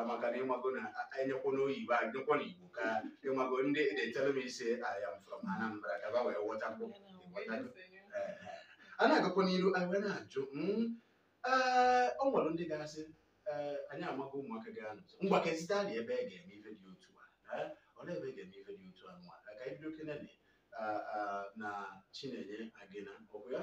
maka na ịmago na enyekwa n'oyibo enyekwa na igbo ka ịmago ndị na-etelu m isi I am from Anambra ka fa wee ghọtakwuo a na-agakwa n'iru anyị wee na-ajụ ee ọ nwere ndị ga-asị ee anyị amaghị ụmụaka ga-anụ ngwa ka ezite anyị ebe a ga-eme ife dị otu a ee olee ebe a ga-eme ife dị otu a nwa ka anyị bido kenene na chinenye agịna ọkụ ya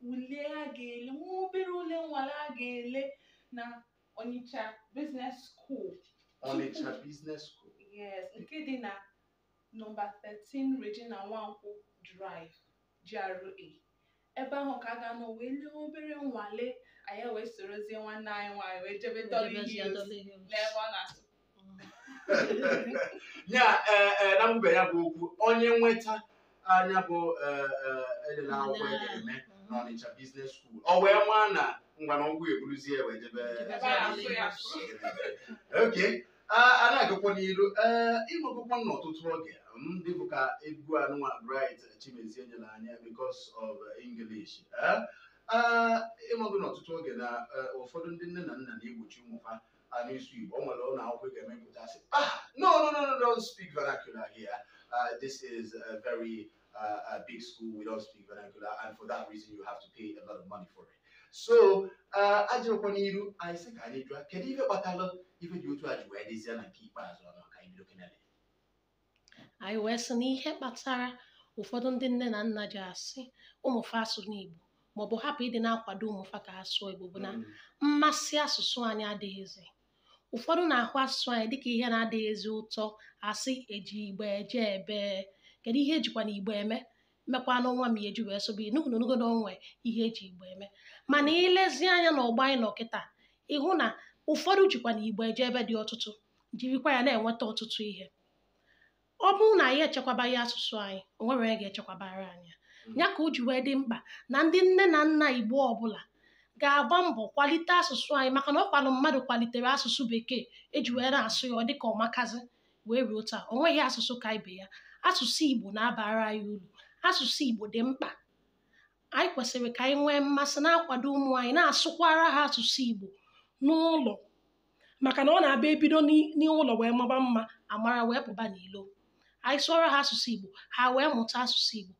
ule a ga-ele nwa obere ule nwale a ga-ele na Onitsha Business School Onitsha Business School yes nke dị na nọmba 13 Regina Nwankwo Drive GRA ebe ahụ ka a ga-anọ wee lee obere nwale anyị wee sorozie nwanne anyị nwaanyị wee jebe Dolly Hills n'ebe ọ na-asụ ya ee ee na mgbe ya bụ okwu onye nweta nya bụ ee ee edela akwụkwọ a ga-eme n'Ọnịcha Business School ọ wee maa na ngwa na ụgwọ eburuzie wee jebe okay a na-agakwa n'iru ee ịmagokwa n'ọtụtụ oge dịka egwu anụnwa Bright Chimezie nyere anyị because of English ee ịmago n'ọtụtụ oge na eh, ụfọdụ ndị nne na nna na-egbochi ụmụ ha a na-asụ Igbo o nwere ụlọ akwụkwọ ị ga-emepụta sị ah no no no no don't speak vernacular here uh, this is a very uh, a big school we don't speak vernacular and for that reason you have to pay a lot of money for it so uh, ajụrụkwa n'iru anyị sị ka anyị jụọ kedu ihe kpatara ife dị otu a ji wee dịzie na nke ikpeazụ ọnụ ka anyị bido kenele anyị wee sị na ihe kpatara ụfọdụ ndị nne na nna ji asị ụmụfa asụna Igbo maọbụ hapụ ịdị na-akwado ụmụfa ka ha sụọ Igbo bụ na mmasị asụsụ anyị adịghịzi ụfọdụ na-ahụ asụsụ anyị dịka ihe na-adịghịzi ụtọ asị eji Igbo eje ebee kedu ihe ejikwanụ Igbo eme mekwanụ nwa m eji wee sụbe ị nụgo ị nụgo na o nwe ihe eji Igbo eme mana ilezi anya na ọgbọ anyị nọ kịta ịhụ na ụfọdụ jikwanụ Igbo eje ebe dị ọtụtụ jirikwa ya na-enweta ọtụtụ ihe ọ bụrụ na anyị echekwabaghị asụsụ anyị o nwere onye ga-echekwabara anyị ya. ya ka o ji wee dị mkpa na ndị nne na nna igbo ọbụla ga-agba mbọ kwalite asụsụ anyị maka na ọ kwanụ mmadụ kwalitere asụsụ bekee eji wee na-asụ ya ọ dịka ọmakazi wee ruo taa o nweghị asụsụ ka ibe ya asụsụ igbo na-abara anyị uru asụsụ igbo dị mkpa anyị kwesịrị ka anyị nwee mmasị na-akwado ụmụ anyị na-asụkwara ha asụsụ igbo n'ụlọ maka na ọ na-abụ ebido n'i- n'ụlọ wee maba mma amara wee pụba n'ilo anyị sụọrọ ha asụsụ igbo ha wee mụta asụsụ igbo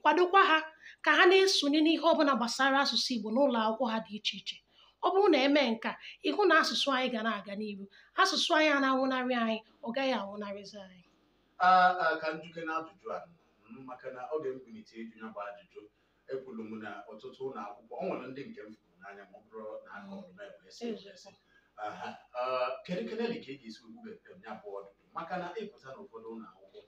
kwadokwa ha ka ha na-esonye n'ihe ọbụla gbasara asụsụ igbo n'ụlọ akwụkwọ ha dị iche iche ọ bụrụ na emee nke a ịhụ na asụsụ anyị ga na-aga n'iru asụsụ anyị a na-anwụnarị anyị ọ gaghị anwụnarịzi anyị a a ka m jụkene ajụjụ a mm, maka na ọ ga-ekwulite ịjụ ya bụ ajụjụ ekwuru m na ọtụtụ ụnọ akwụkwọ ọ nwere ndị nke m fụrụ n'anya ma ọ bụrụ na a kọrọ m ebe esi ebe esi Aha, ah, kedu kene dị ka ị ga-esi ugbu bekee m ya bụ ọdụdụ maka na ịpụta n'ụfọdụ ụnọ akwụkwọ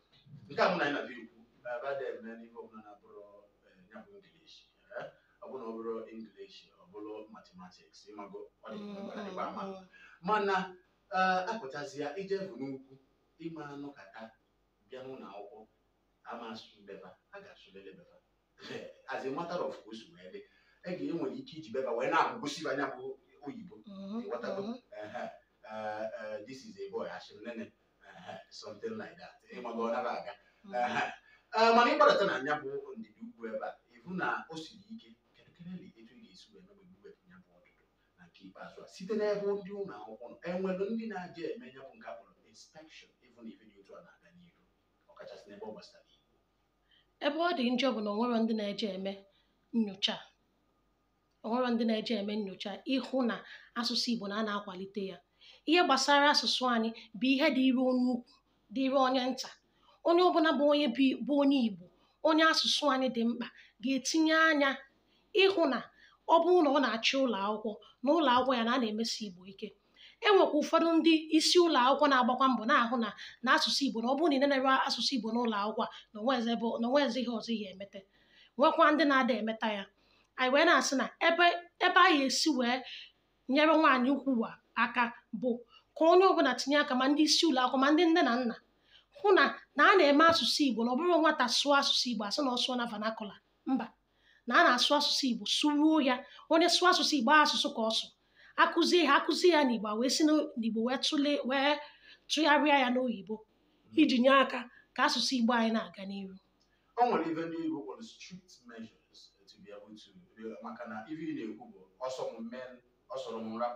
nke a mụ na anyị na-abịa ekwu ebe a na-eme n'ihe ọbụla na-abụrụ eh, ya bụ English eh, ọ bụrụ na ọ bụrọ English ọ bụrụ mathematics ịmago ọ dị mkpa maka ịgba ama mana eh, apụtazia ije bụ n'ugwu ịma anọkata bịa n'ụnọ akwụkwọ ama asụ mbeba a ga-asụlịlị beba as a matter of course wee dị a ga-enwe ike iji beba wee na-agụgosi nya bụ oyibo Mhm, Ịghọtago? mhm. Ehe, eh, eh, this is a boy asị menene Ehe, something like that ịmago ọ na-aga Mhm. Ehe. Eh, mana ịgbadata na nya bụ ndịda ugwu ebe a ịhụ na o siri ike kedu kedụ etu ị ga-esi wee mebe ugwu ebe ya bụ ọdụdụ na nke ikpeazụ a site n'ebe ndị ụlọ akwụkwọ nọ enwere ndị na-eje eme ya bụ nke a kpọrọ inspection ịhụ na ife dị otu a na-aga n'ihu ọkachasị n'ebe ọ gbasara Igbo ebe ọ dị njọ bụ na onwerọ ndị na-eje eme nyocha onwerọ ndị na-eje eme nyocha ịhụ na asụsụ Igbo na a na-akwalite ya ihe gbasara asụsụ anyị bụ ihe dịịrị onye ukwu dịịrị onye nta onye ọbụla bụ onye bụ onye Igbo onye asụsụ anyị dị mkpa ga-etinye anya ịhụ na ọ bụrụ na ọ na-achị ụlọ akwụkwọ na ụlọ akwụkwọ ya na a na-emesi Igbo ike e nwekwa ụfọdụ ndị isi ụlọ akwụkwọ na-agbakwa mbọ na-ahụ na na asụsụ Igbo na ọ bụrụ na ị na-eme asụsụ Igbo n'ụlọ akwụkwọ a na onwezi ebe na onwezi ihe ọzọ ihe emete nwekwa ndị na-ada emeta ya anyị wee na-asị na ebe ebe anyị esi wee nyere nwaanyị ukwu a aka bụ ka onye ọbụla tinye aka ma ndị isi ụlọ akwụkwọ ma ndị nne na nna hụ na na a na-eme asụsụ Igbo na ọ bụrọ nwata sụọ asụsụ Igbo asị na ọ sụọ na vernacular mba na a na-asụ asụsụ igbo sụruo ya onye sụọ asụsụ igbo asụsụ ka ọ sụ akụzie ya akụzie ya n'igbo wee si n'igbo wee tụlee wee tụgharịa ya n'oyibo hmm. iji nye aka ka asụsụ igbo anyị na-aga n'ihu o nwere ife ndị igbo kpọrọ strict measures to be able to maka na ife ị na-ekwu bụ ọ sọ m mee ọ sọrọ m ra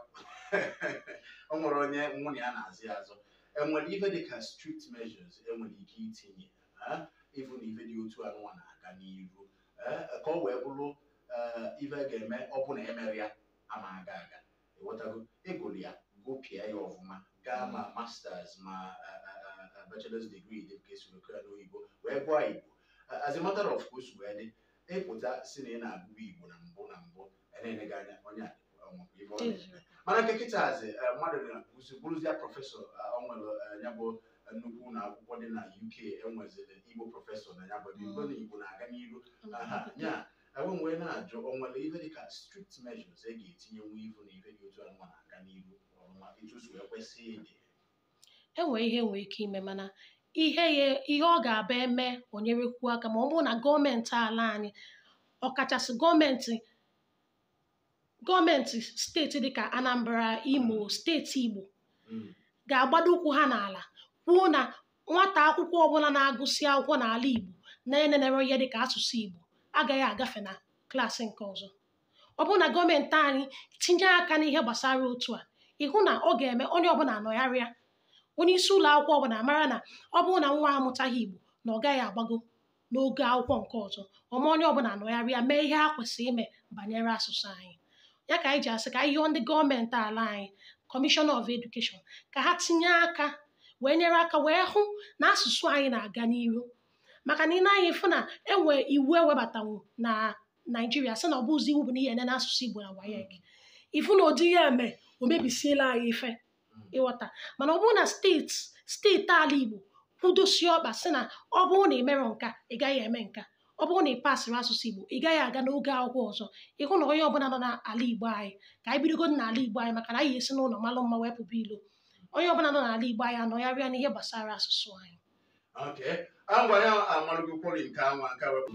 o nwere onye nwunye ya na-azụ ya azụ enwere ife dị ka strict measures enwere ike itinye eh, ịfụ na ife dị otu anụnwa na-aga n'iru eh, ka ọ wee bụrụ eh, ife a ga-eme ọ bụ na emerọ ya ama aga aga ịghọtago ịgụrụ ya gụpịa ya ọfụma gaa ma masters ma eh, eh, eh, bachelor's degree dị ka esi ekwu ya n'oyibo wee gụọ igbo Eh, as a matter of course wee dị ịpụta sị na ị na-agụ igbo na mbụ na mbụ enene gị anya onye a mana nke kịtazi eh, mmadụ na-akụzi bụrụzie professor eh, ọ nwere eh, ya bụ nnukwu ụnọ akwụkwọ dị na UK enweziri igbo professor na ya bụ ebe igbo na igbo na-aga n'iru ya bụ m wee na-ajụ o nwere ihe dịka strict measures a ga-etinyenwu ịfụ na ihe dị otu anụnwa na-aga n'iru ọfụma otu o si kwesị ịdị e nwee ihe nwee ike ime mana ihe ya ihe ọ ga-abụ e mee o nyerekwuo aka ma ọ bụrụ na gọọmenti ala anyị ọkachasị gọọmenti gọọmenti steeti dịka Anambra Imo steeti Igbo Mm. ga-agbado ụkwụ ha n'ala kwuo na nwata akwụkwọ ọbụla na-agụsị akwụkwọ n'ala Igbo na-enenere ihe dịka asụsụ Igbo agaghị agafe na klaasị nke ọzọ ọ bụrụ na gọọmenti anyị tinye aka n'ihe gbasara otu a ị hụ na ọ ga-eme onye ọbụla anọgharịa onye isi ụlọ akwụkwọ ọbụla mara na ọ bụrụ na nwa amụtaghị igbo na ọ gaghị agbago n'ogo akwụkwọ nke ọzọ o mee onye ọbụla anọgharịa mee ihe ha kwesịrị ime banyere asụsụ anyị ya ka anyị ji asị ka anyị yọọ ndị gọọmenti ala anyị commissioner of education ka ha tinye aka wee nyere aka wee hụ na asụsụ anyị na-aga n'ihu maka na ị nee anya ị fụ na e nwee iwu e webatanwu na naijiria sị na ọ bụzi iwu bụ na ihe ene n'asụsụ igbo na WAEC ị fụ na ụdị ihe a e mee o mebisiela anyị ife ị ghọta mana ọ bụrụ na steeti steeti ala igbo kwudosie ọkpa sị na ọ bụrụ na ị merọ nka ị gaghị eme nka ọ bụrụ na ị pasịrọ asụsụ igbo ị gaghị aga n'ogo akwụkwọ ọzọ ị hụ na onye ọbụla nọ n'ala igbo anyị ka anyị bidogodu n'ala igbo anyị maka na anyị esi n'ụlọ malụ mma wee pụba ilo onye ọbụla nọ n'ala igbo anyị anọgharịa n'ihe gbasara asụsụ anyị Okay. Agwa ya amalụgo kwori nke anwa nke wepụ.